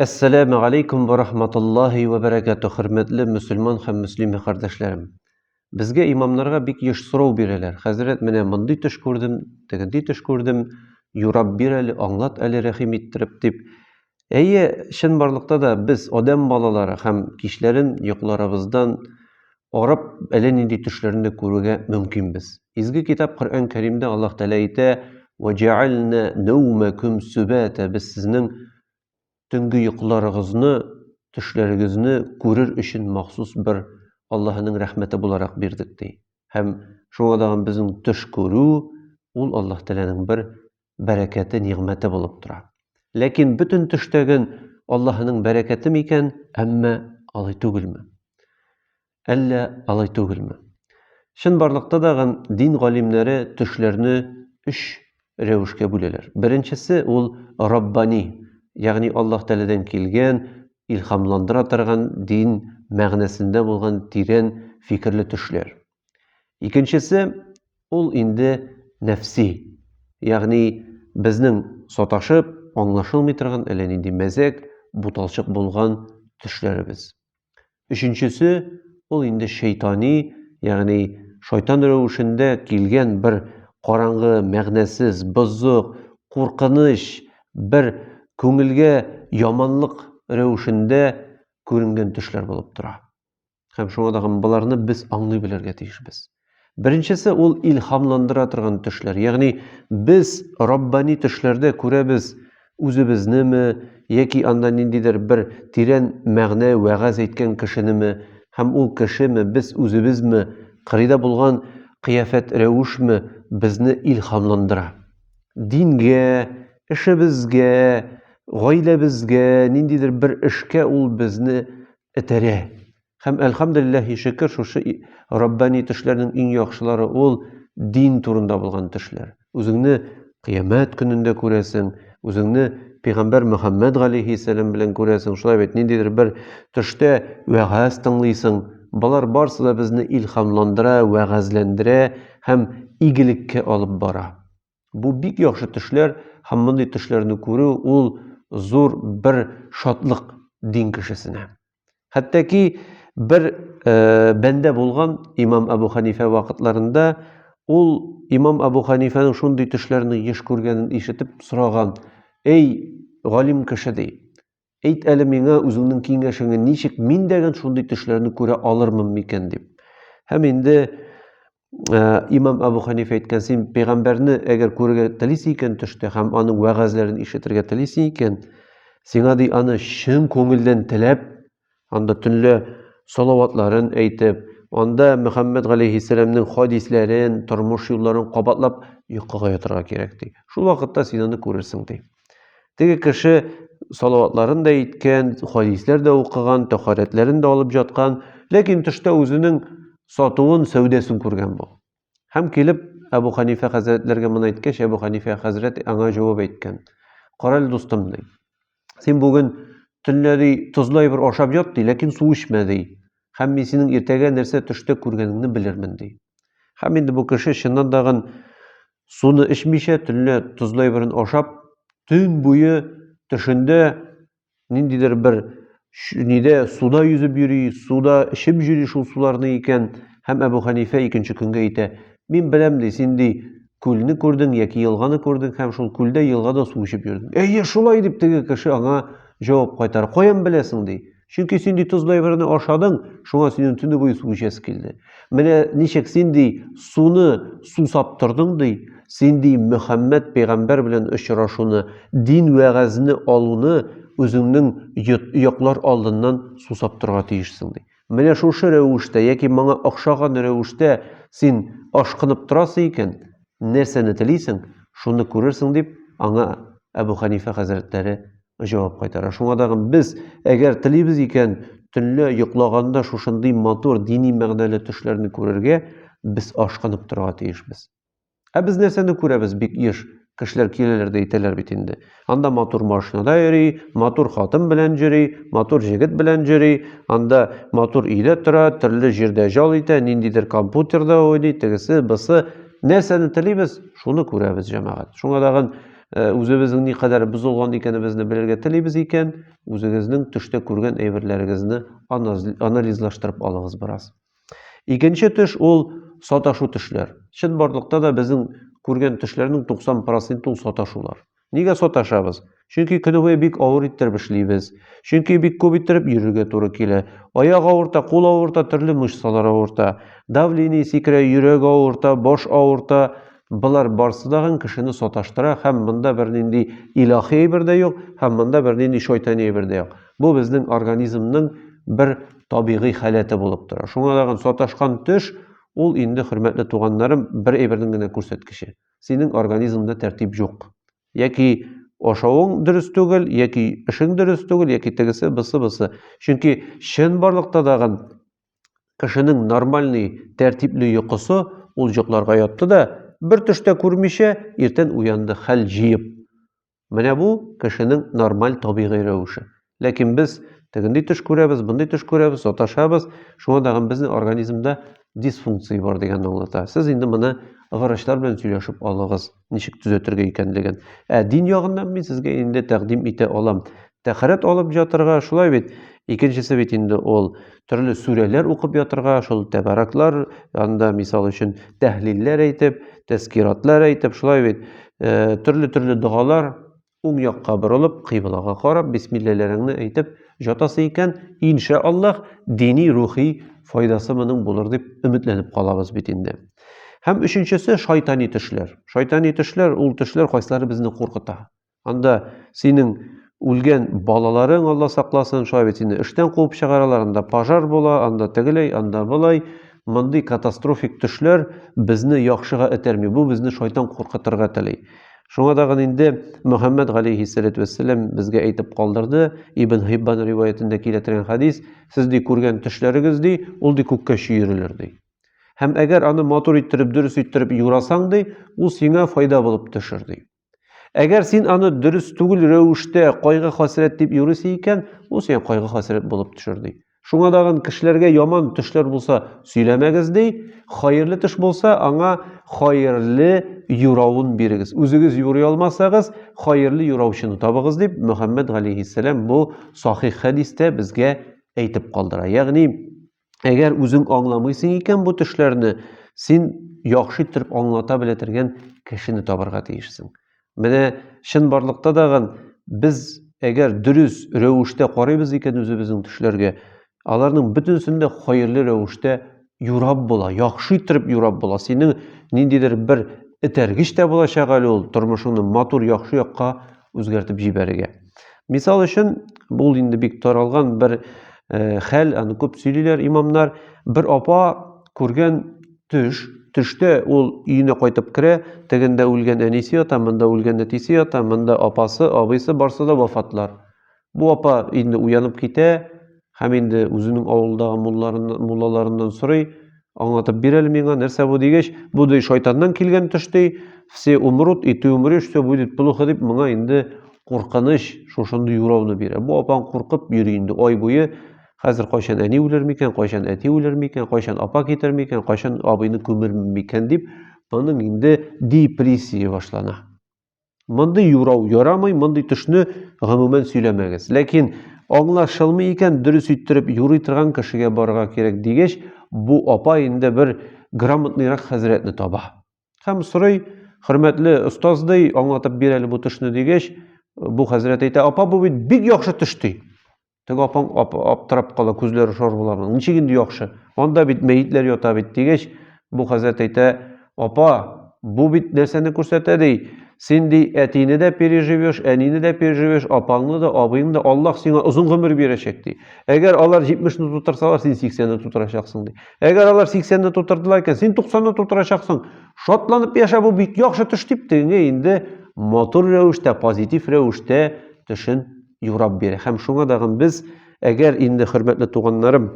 Әссәләмә галәйкүм вә рахматуллаһи вә бәрәкәтү, хөрмәтле мөселман һәм мөслимә кардәшләрем. Безгә имамнарга бик еш сорау бирәләр, хәзрәт, менә мондый төш күрдем, тегенди төш күрдем, юрап бир әле, аңлат әле рәхим иттереп, дип. Әйе, чынбарлыкта да без, адәм балалары һәм кичләрен йокларыбыздан карап, әллә нинди төшләрне дә күрергә мөмкинбез. Изге китап Коръән Кәримдә Аллаһ Тәгалә әйтә: "Ва җәгальнә наумакум сүбәтә" Без сезнең төнге йокыларыгызны, төшләрегезне күрер өчен махсус бер Аллаһының рәхмәте буларак бирдек ди. Һәм шуңа дагын безнең төш күрү ул Аллаһ Тәгаләнең бер бәрәкәте, нигъмәте булып тора. Ләкин бөтен төштәген Аллаһының бәрәкәте микән, әмма алай түгелме? Әллә алай түгелме? Чын барлыкта да гам дин галимнәре төшләрне өч рәвешкә бүләләр. Беренчесе ул раббани, ягъни Аллаһ Тәгаләдән килгән, илһамландыра торган дин мәгънәсендә булган тирән фикерле төшләр. Икенчесе ул инде нәфси, ягъни безнең саташып, аңлашылмый торган әллә нинди мәзәк, буталчык булган төшләребез. Өченчесе ул инде шайтани, ягъни шайтан рәвешендә килгән бер караңгы, мәгънәсез, бозык, куркыныч, бер күңелгә яманлык рәвешендә күренгән төшләр булып тора. Һәм шуңа да боларны без аңлый белергә тиешбез. Беренчесе ул илһамландыра торган төшләр. Ягъни без раббани төшләрдә күрәбез үзебезнеме яки анда ниндидер бер тирән мәгънә вәгазь әйткән кешенеме һәм ул кешеме без үзебезме кырыйда булган кыяфәт рәвешме безне илһамландыра. Дингә, эшебезгә, гаиләбезгә, ниндидер бер эшкә ул безне этәрә. Һәм, әлхәмдүлилләһи шөкер, шушы раббани төшләрнең иң яхшылары ул дин турында булган төшләр. Үзеңне кыямәт көнендә күрәсең, үзеңне пәйгамбәр Мөхәммәд галәйһиссәлам белән күрәсең, шулай бит, ниндидер бер төштә вәгазь тыңлыйсың. Болар барысы да безне илһамландыра, вәгазьләндерә һәм игелеккә алып бара. Бу бик яхшы төшләр һәм мондый төшләрне күрү ул зур бер шатлык дин кешесенә. Хәтта ки бер э, бәндә булган имам Абу Ханифә вакытларында ул имам Абу Ханифәнең шундый төшләрне еш күргәнен ишетеп сораган. Эй, галим кеше ди. Әйт әле миңа үзеңнең киңәшеңе ничек мин дәген шундый төшләрне күрә алырмын микән дип. Һәм инде Э, имам абу ханиф әйткән син пәйгамбәрне әгәр күрергә телисең икән төштә һәм аның вәгазьләрен ишетергә телисең икән сиңа ди аны чын күңелдән теләп Анда төнлә салаватларын әйтеп, анда Мөхәммәд галәйһиссәламнең хадисләрен, тормыш юлларын кабатлап йокыга ятарга кирәк ди. Шул вакытта син аны күрерсең ди. Теге кеше салаватларын да әйткән, хадисләр дә укыган, тәхарәтләрен дә алып жаткан, ләкин төштә үзенең сатуын, сәүдәсен күргән бу. Һәм килеп, Әбу Хәнифә хәзрәтләргә моны әйткәч, Әбу Хәнифә хәзрәт аңа җавап әйткән. Кара әле, дустым, ди. Син бүген төнлә ди, тозлы әйбер ашап ят ди, ләкин су эчмә ди. Һәм мин синең иртәгә нәрсә төштә күргәнеңне белермен ди. Һәм инде бу кеше чыннан да гын суны эчмичә, төнлә тозлы әйберен ашап, төн буе төшендә ниндидер бер нидә суда йөзеп йөри, суда эчеп йөри шул суларны икән, һәм Әбу Хәнифә икенче көнгә әйтә, мин беләм ди, син ди күлне күрдең яки елганы күрдең һәм шул күлдә елгада су эчеп йөрдең. Әйе, шулай дип теге кеше аңа җавап кайтар. Каян беләсең ди? Чөнки син ди тозлы әйберне ашадың, шуңа синең төне буе су эчәсе килде. Менә ничек син ди суны сусап тордың ди, син ди Мөхәммәд пәйгамбәр белән очрашуны, дин вәгазьне алуны үзеңнең йоклар алдыннан сусап торга тиешсең ди. Менә шушы рәвештә яки моңа охшаган рәвештә син ашкынып торасың икән, нәрсәне телисең, шуны күрерсең, дип аңа Әбу Хәнифә хәзрәтләре Җавап кайтара. Шуңа тагын без, әгәр телибез икән, төнлә йоклаганда шушындый матур дини мәгънәле төшләрне күрергә, без ашкынып торырга тиешбез. Ә без нәрсәне күрәбез бик еш? Кешеләр киләләр дә әйтәләр бит инде. Анда матур машинада йөри, матур хатын белән йөри, матур җегет белән йөри, анда матур өйдә тора, төрле җирдә җал итә, ниндидер компьютерда уйный, тегесе, бысы. Нәрсәне телибез, шуны күрәбез, җәмәгать. Шуңа тагын Э, үзебезнең никадәр бозылган икәнебезне белергә телибез икән, үзегезнең төштә күргән әйберләрегезне анализлаштырып алыгыз бераз. Икенче төш ул саташу төшләр. Чын барлыкта да безнең күргән төшләрнең 90% ул саташулар. Нигә саташабыз? Чөнки көне бик авыр иттереп эшлибез. Чөнки бик күп иттереп йөрергә туры килә. Аяк авырта, кул авырта, төрле мышцалар авырта. Давление сикерә, йөрәк авырта, баш авырта, Болар барсы дагын кешене саташтыра һәм монда бернинди илаһи әйбер дә юк, һәм монда бернинди шайтани әйбер дә юк. Бу безнең организмның бер табигый халәте булып тора. Шуңа дагын саташкан төш ул инде хөрмәтле туганнарым бер әйбернең генә күрсәткече. Синең организмда тәртип юк. Яки ашавың дөрес түгел, яки эшең дөрес түгел, яки тегесе, бысы, бысы. Чөнки чын барлыкта дагын Кешенең нормальный, тәртипле йокысы, ул йокларга ятты да, бер төш тә күрмичә, иртән уянды хәл җыеп. Менә бу кешенең нормаль табигый рәвеше. Ләкин без тегендый төш күрәбез, бындый төш күрәбез, саташабыз. Шуңа тагын безнең организмда дисфункция бар дигәнне аңлата. Сез инде моны врачлар белән сөйләшеп алыгыз. ничек төзәтергә икәнлеген. Ә дин ягыннан мин сезгә инде тәкъдим итә алам. Тәхәрәт алып ятырга, шулай бит? Икенчесе бит инде ул төрле сүрәләр укып ятырга, шул тәбәрәкләр янында, мисал өчен, тәһлилләр әйтеп, тәскиратлар әйтеп, шулай бит? Э, төрле-төрле догалар, Уң якка борылып, кыйблага карап, бисмилләләреңне әйтеп җатасы икән, иншә Аллаһ, дини-рухи файдасы моның булыр дип өметләнеп калабыз бит инде. Һәм өченчесе шайтани төшләр. Шайтани төшләр ул төшләр кайсылары безне куркыта. Анда синең үлгән балаларың Алла сакласын, шулай бит инде эштән куып чыгаралар, анда пожар була, анда тегеләй, анда болай. Мондый катастрофик төшләр безне яхшыга этәрми, бу безне шайтан куркытырга тели. Шуңа тагын инде Мөхәммәд галәйһиссәләтү вәссәлам безгә әйтеп калдырды, Ибн Хиббан риваятендә килә торган хәдис, сез ди күргән төшләрегез ди, ул ди күккә чөерелер ди. Һәм әгәр аны матур иттереп, дөрес иттереп юрасаң ди, ул сиңа файда булып төшер ди. Әгәр син аны дөрес түгел рәвештә кайгы хәсрәт дип юрыйсы икән, ул сиңа кайгы хәсрәт булып төшер ди. Шуңа дагын кешеләргә яман төшләр булса, сөйләмәгез ди, хәерле төш булса, аңа хәерле юравын бирегез. Үзегез юрый алмасагыз, хәерле юраучыны табыгыз дип Мөхәммәд галейхиссәлам бу сахих хәдистә безгә әйтеп калдыра. Ягъни Әгәр үзең аңламыйсың икән бу төшләрне, син яхшы иттереп аңлата белә торган кешене табарга тиешсең. Менә чын барлыкта дагын без әгәр дөрес рәвештә карыйбыз икән үзебезнең төшләргә, аларның бөтенесен дә хәерле рәвештә юрап була, яхшы иттереп юрап була. Синең ниндидер бер этәргеч тә булачак әле ул тормышыңны матур яхшы якка үзгәртеп җибәрергә. Мисал өчен, бу инде бик таралган бер э, хәл, аны күп сөйлиләр имамнар. Бер апа күргән төш, төштә ул өенә кайтып керә, тегендә үлгән әнисе ята, монда үлгән әтисе ята, монда апасы, абыйсы барсы да вафатлар. Бу апа инде уянып китә һәм инде үзенең авылдагы муллаларыннан сорый, аңлатып бир әле миңа, нәрсә бу дигәч, бу ди шайтаннан килгән төш ди, все умрут и ты умрешь, все будет плохо дип моңа инде куркыныч шушындый юрауны бирә. Бу апаң куркып йөри инде ай буе. Хәзер кайчан әни үлер микән, кайчан әти үлер микән, кайчан апа китер микән, кайчан абыйны күмер микән дип, аның инде депрессия башлана. Мондый юрау ярамый, мондый төшне гомумән сөйләмәгез. Ләкин аңлашылмый икән, дөрес иттереп юрый торган кешегә барырга кирәк дигәч, бу апа инде бер грамотныйрак хәзрәтне таба. Һәм сорый, хөрмәтле остаз ди, аңлатып бир әле бу төшне дигәч, бу хәзрәт әйтә, апа бу бит бик яхшы төш ди. Теге апаң ап, аптырап кала, күзләре шар була. Ничек инде яхшы? Анда бит мәетләр ята бит дигәч, бу хәзрәт әйтә, апа, бу бит нәрсәне күрсәтә ди. Син ди әтине дә переживешь, әнине дә переживешь, апаңны да, абыйны да Аллаһ сиңа озын гомер бирәчәк ди. Әгәр алар 70-ны тутырсалар, син 80-ны тутырачаксың ди. Әгәр алар 80-ны тутырдылар икән, син 90-ны тутырачаксың. Шатланып яшә, бу бик яхшы төш дип тегеңә инде матур рәвештә, позитив рәвештә төшен юрап бирә. Һәм шуңа дагын без, әгәр инде хөрмәтле туганнарым,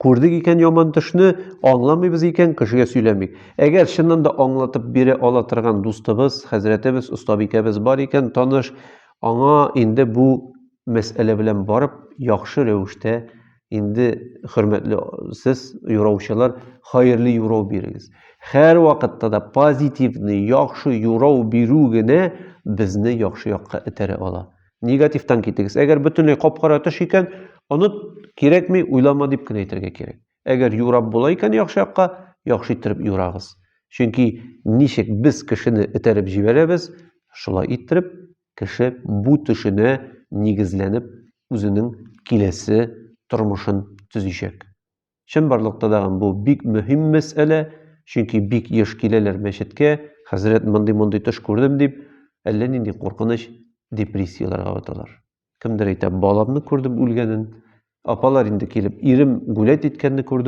күрдек икән яман төшне, аңламыйбыз икән, кешегә сөйләмик. Әгәр чыннан да аңлатып бирә ала торган дустыбыз, хәзрәтебез, остабикәбез бар икән, таныш, аңа инде бу мәсьәлә белән барып яхшы рәвештә Инде хөрмәтле сез юраучылар, хәерле юрау бирегез. Хәр вакытта да позитивны, яхшы юрау бирү генә безне яхшы якка этәрә ала. Негативтан китегез. Әгәр бөтенләй капкара төш икән, оныт, кирәкми, уйлама дип кенә әйтергә кирәк. Әгәр юрап була икән яхшы якка, яхшы иттереп юрагыз. Чөнки ничек без кешене этәреп җибәрәбез, шулай иттереп Кеше бу төшенә нигезләнеп үзенең киләсе тормышын төзичәк. Чынбарлыкта тагын бу бик мөһим мәсьәлә, чөнки бик еш киләләр мәчеткә, хәзрәт мондый-мондый төш күрдем дип, әллә нинди куркыныч депрессияләргә баталар. Кемдер әйтә, баламны күрдем үлгәнен, апалар инде килеп, ирем гулять иткәнне күрдем.